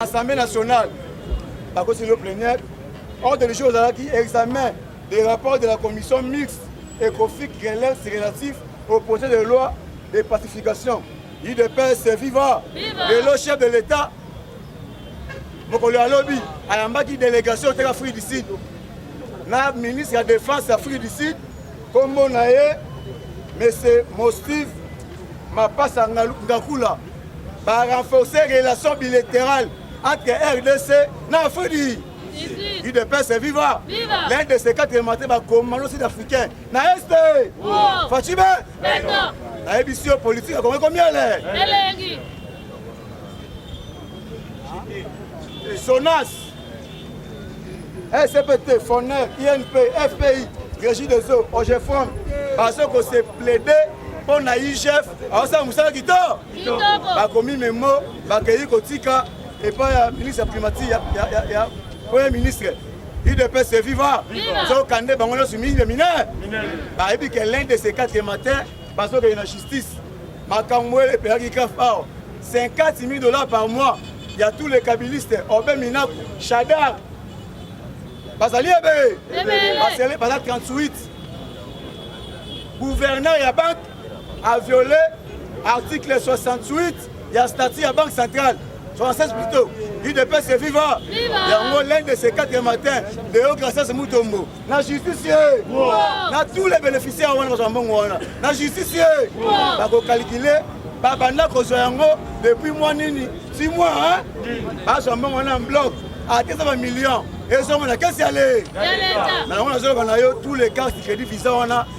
Assemblée nationale, la commission plénière, ordre du jour ozalaki examen des rapports de la commission mixte ECOFIC Grelais relatif au projet de loi de pacification. UDPS viva! Lelo chef de l'État mokolo ya lobi ayambaki délégation oteka Afrique du Sud na ministre ya défense ya Afrique du Sud nkombo na ye monsieur Mostive Mapasa Ngakula Ba renforcer relation bilaterale entre RDC na Afrique. UDPS est vivant. L'un de ces quatre élémentaires ba commando sud-africain na est. Fachibe. Na ebisio politique akomi combien là? Elengi. Sonas. SPT, FONER, INP, FPI, Régie des eaux, OGFOM, parce que c'est plaidé mpo na igf Awasala musala kitoko. Bakomi memo bakeyi kotika epai ya ministre ya primati ya, ya, ya, ya premier ministre udps viva zoka nde bango nyonso mingi minere bayebi ke l'un de ces quatre matin bazokende na justice makambo oyo epelaki caf awa 50 000 dollars par mois ya tous les kabilistes obe minaku shadar bazali ebe baza 38 gouverneur ya banque a violé article 68 ya statut ya banque centrale 76 plutôt udps est viva yango l'un de ces quatre matin deo gracias mutombo na justice ye na tous les bénéficiaires wana bazwa mbongo wana na justice ye bakokalkule babanda kozwa yango depuis mwa nini si mwa bazwa mbongo wana bloc ateza bamillion ezongo na kesi ya le na yango nazoloba na yo tous les cas crédit visa wana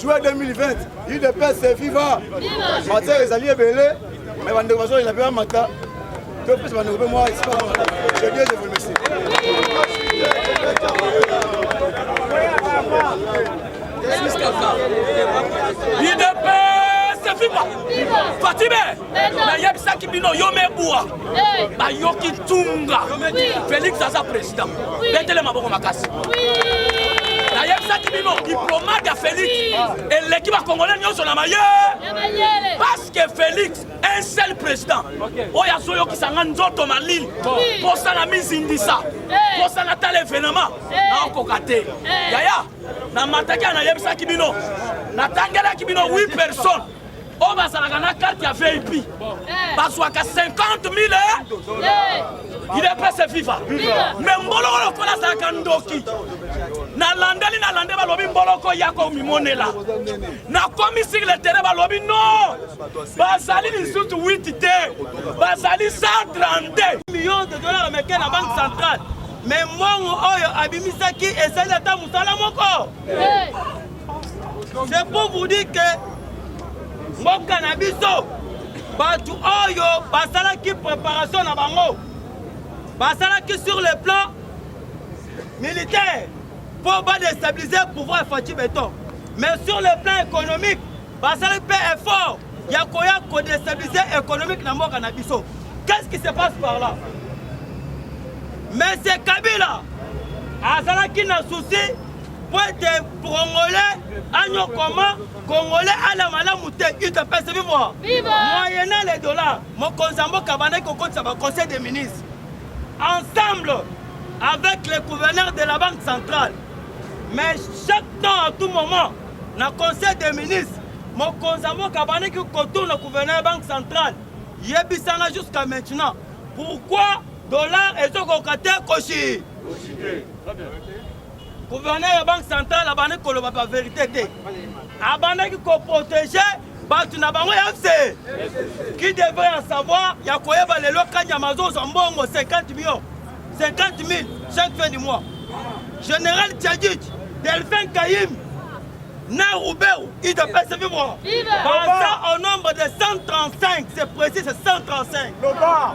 juin 2020 udps viva matière ezali ebele me bandeko bazolela mpe bamata topesa bandeko mpe mwa espa je dieu je vous remercie Idepes, c'est Fatime nayebisaki bino yo mebua bayoki ntunga felix aza président betele maboko makasi nayebisaki bino diplomate ya felix eleki bakongole nyonso na maye parce que felix un seul président oyo azoyokisa nga nzoto malili mposa na mizindisa mposa na tala evenema naokoka te yaya namataki anayebisaki bino natangelaki bino 8 personnes oyo bazalaka na karte ya vip eh. bazwaka 50 mille idepese viva me mboloko lokola azalaka ndoki nalandeli nalande balobi mboloko yaka omimonela nakomi sur le terrain balobi no bazali lisusu 8 te bazali 132 million de dollars ameke na banque centrale me mbongo oyo abimisaki ezali ata mosala moko C'est pour vous dire que mboka na biso bato oyo basalaki préparation na bango basalaki sur le plan militaire mpo badestabilise pouvoir faci beton mais sur le plan économique basali mpe effort ya koya kodestabilise économique na mboka na biso qu'est-ce qui se passe par là monsieur kabila azalaki na souci mpo ete congolais anyokoma congolais ala malamu te udps vivo moyena le dollar mokonzi ya mboka abandaki kokotisa baconseil des ministres ensemble avec le gouverneur de la banque centrale mais chaque temps à tout moment na conseil des ministres mokonzi ya mboka abandaki kotourna gouverneur ya banque centrale yebisanga jusqu'à maintenant pourquoi dollar ezokoka te koshi Gouverneur ya banque centrale abandi koloba ba verite te. Abandaki ko protéger bato na bango ya fse qui devrait en savoir ya koyeba lelo kanyama azozwa mbongo 50 millions 50 000 chaque fin du mois général tchadjit delphin kayim na rubeu idps vivre baza au nombre de 135 c'est précis c'est 135 Loba.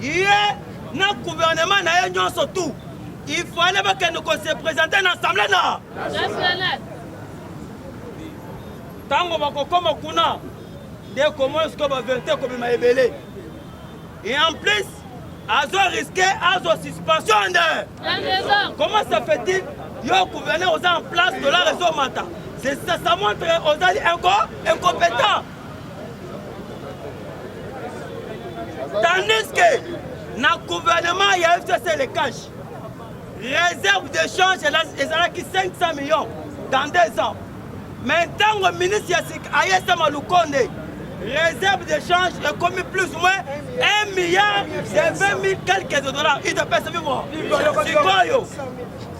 ye na gouvernement na ye nyonso tout il fallait bakende ko se présenter na assemblée na ntango bakokoma kuna nde komona sikoyo baverité ekobima ebele et en plus azo riske azo suspension nde comment ça fait-il yo gouverneur oza en place tola rezo mata ça montre ozali incompétent tandis que na gouvernement ya fcc le cash réserve de change ezalaki 500 millions dans deux ans mais ntango ministre ya sika ayesama lukonde réserve de change ekomi plus ou moins 1 milliard de 20 000 quelques de dollars idapesa bimo sikoyo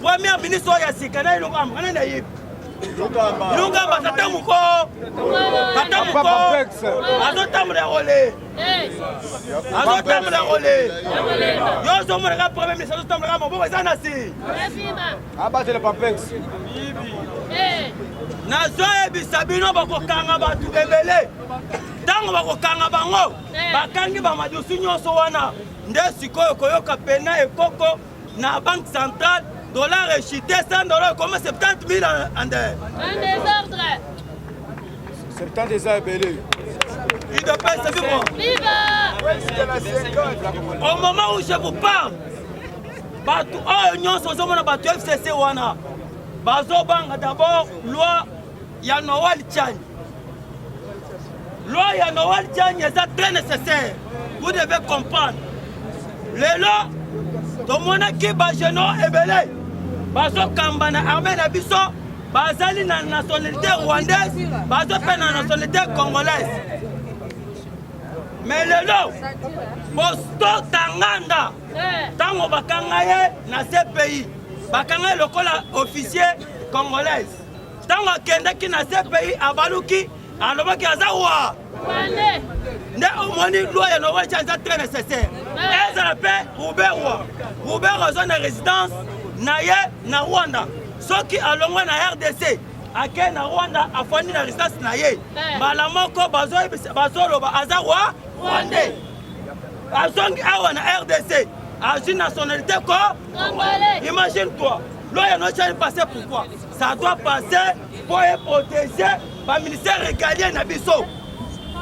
première ministre oyo ya sika na eloko amukana na yebi lungamba tata moko tata moko azotambola ya kole azotambola ya kole yo ozomonaka premier ministre azotambolaka moboko eza na si abatele papex nazoyebisa bino bakokanga bato ebele ntango bakokanga bango bakangi bamadusu nyonso wana nde sikoyo koyoka pena ekoko na banque centrale dollar echute 100 dollar comme 70 000 en désordre 70 eza ebele idps vivo au moment où je vous parle bato oyo nyonso ozomona bato fcc wana bazobanga d'abord loi ya Noel Chang. Loi ya Noel Chang eza très nécessaire. Vous devez comprendre. Lelo tomonaki ba jeunes ebele bazokamba na armée na biso bazali na nationalité rwandaise bazo mpe na nationalité congolaise me lelo bostota nganda ntango bakanga ye na cpi bakanga ye lokola officier congolaise ntango akendaki na cpi abaluki alobaki aza wa nde omoni loi ya nowa tia eza très nécessaire ezala mpe ruberwa ruberwa aza na résidence na ye na rwanda soki alongwe na rdc ake na rwanda afandi na résidence na ye eh. mbala moko bazoloba aza wa rwandais azongi awa na rdc azwi nationalité ko Imagine toi, loi ya noche passé pourquoi Ça doit passer pour protéger ba ministère régalien na biso.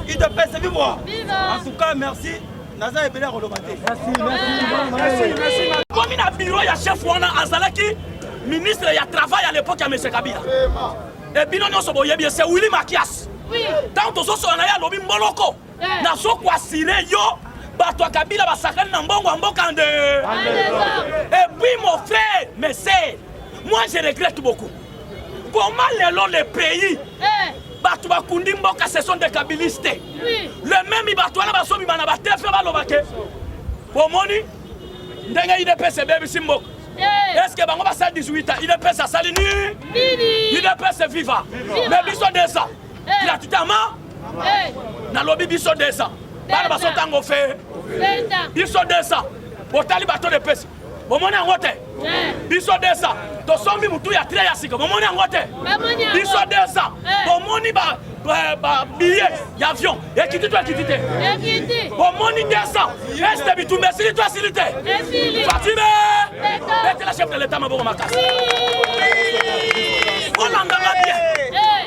Il te pèse vive moi. En tout cas, merci. Naza ebele koloba te. Merci, merci. Merci. Komi na bureau ya chef wana azalaki ministre ya travail à l'époque ya monsieur Kabila. Et bino nyonso boyebi c'est Willy Makias. Oui. Tant tozosola na ye alobi mboloko. nazo kuasire yo bato ya kabila basakani na mbongo ya mboka nde epuis mon frère mese moi je regrette beaucoup koma lelo le pays eh. bato bakundi mboka ce sont des kabiliste le meme bato wana bazobima na batefe baloba ke omoni ndenge idps ebebisi mboka eh. eske bango basali 18 ans idps asali nini idps viva me biso 200 gratuitement nalobi biso 200 bana baso ntango fe biso 200 botali bato de pesa bomoni yango te biso 200 tosombi motu ya tre ya sika bomoni yango te biso 200 bomoni ba babillet ya avion ekiti to ekiti te bomoni 200 este bitumba esili to esili te fatime betela chef de leta maboko makasi olandanga bien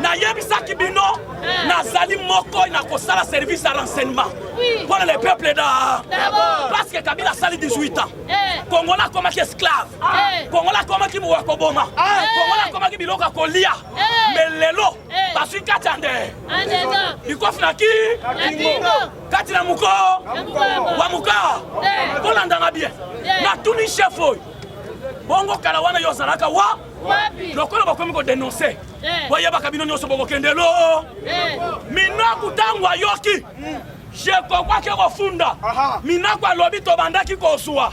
nayebisaki bino eh. nazali moko na kosala service ya renseignement mpo na le peuple da parce que kabila asali 18 ans eh. kongola akomaki esclave eh. kongola akomaki mowa ya koboma kongola akomaki biloko ya kolia me lelo bazwi kati ya nde likofi na ki kati na mokoo wa mokaa kolandanga bien natuni chef oyo bongo kala wana yo ozalaka wa lokola bakomi kodenonse boyebaka bino nyonso bokokende lo minaku ntango ayoki jekoko ake kofunda minaku alobi tobandaki kozwa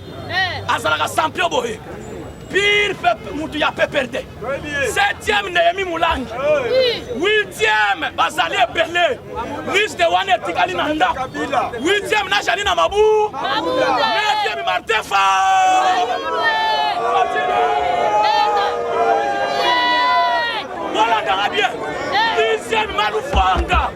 azalaka champion boye pire mutu ya PPRD septième Nehemi Mulangi huitième bazali ebele liste wana etikali na ndako huitième na jali na mabu neuvième Martin Fa bolangaka bien dixième Malufanga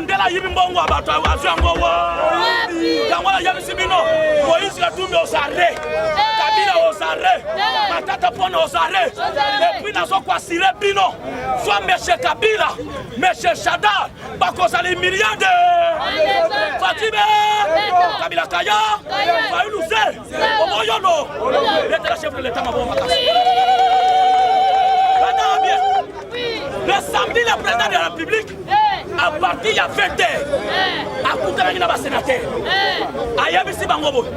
Mandela ayibi mbongo ya bato azwi yango wapi? Yango ayebisi bino Moïse Katumbi osare Kabila osare Matata Pona osare epuis nazokwasire bino soit monsieur Kabila monsieur Shadar bakozala humiliade Fatime Kabila Kaya Fayulu Le samedi, le président de la République, à partir ya 20 heures, akutanaki na basénateur ayebisi bango boye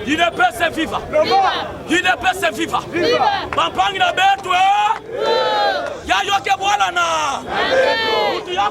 udps viva udps viva bampangi na betwe yayoke bwalana mutu ya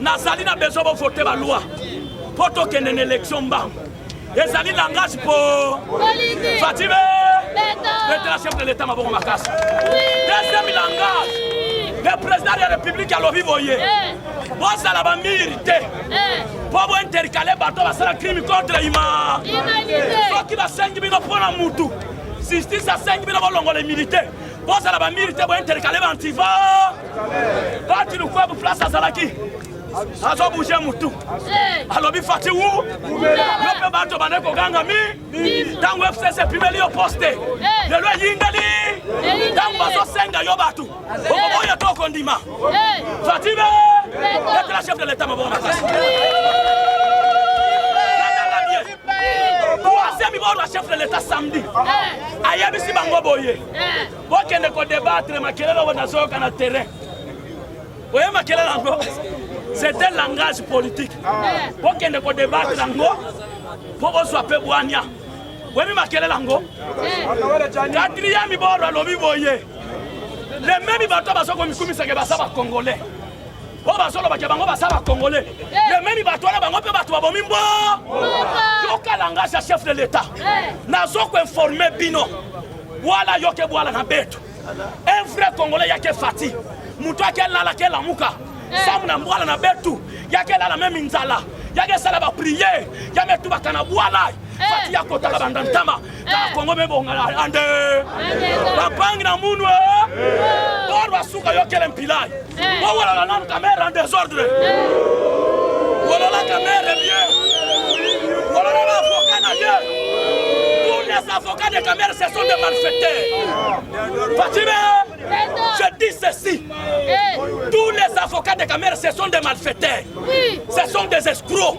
nazali na besoin bo voter ba loi mpo tokende na élection mbangu ezali langage mpo fatime letela chef de l'état mabongo makasi deuxième langage le président de la république alobi boye eh. bozala bamiri te eh. mpo bointercale bato basala crime contre ima soki basengi bino mpo na mutu justice asengi bino bolongola immunité bozala bamiri te bointerkale bantiva bati lukwabu place azalaki azobouge mutu alobi fati wu yo mpe bato bande koganga mi ntango fcc epimeli yo poste lelo eyindeli ntango bazosenga yo bato okoboya to okondima fati be etela chef de leta maboko makasi troisième bord ya chef de l'état samedi ayebisi bango boye bokende kodebatre makelele oyo nazoyoka na terrain oye makelele yango c'était langage politique bokende kodebatre yango mpo bozwa mpe bwania oyebi makelele yango quatrième bord alobi boye lememi bato bazokomikumisaka baza bacongolais oyo bazolobake bango baza bakongole lememi bato wana bango mpe bato babomi mbo yoka langage ya chef de l'etat nazokoinforme bino bwala yoke bwala na betu un vrai congolais yake fati moto ake lala ke lamuka samu na mbwala na betu yake lala meme nzala yake sala bapriere yametubaka na bwala fati yakotaka banda ntama kaka kongo mebongana ande bapangi na munu bor basuka yokele mpilai bowolola nanu kamere en desordre wolola kamere bie wolola baavoka na ye tous les avocats de kamere ce sont des malfaiteurs fatime je dis ceci tous les avocats de kamere ce sont des malfaiteurs ce sont des escrocs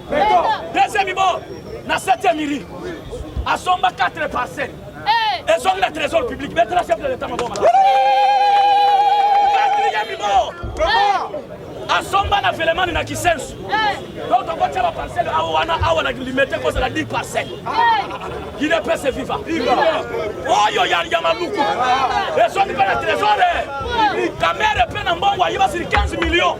deuxième ibo na septième iri asomba 4 parcelle ezongi na trésor public betala chef de l'état maboma quatrième ibo asomba na velemani na kisensu donc tokotya baparcele awa wana awa na limete kozala 10 parcele guine pese viva oyo ya maluku ezongi mpe na trésore kamere mpe na mbongo ayibasili 15 millions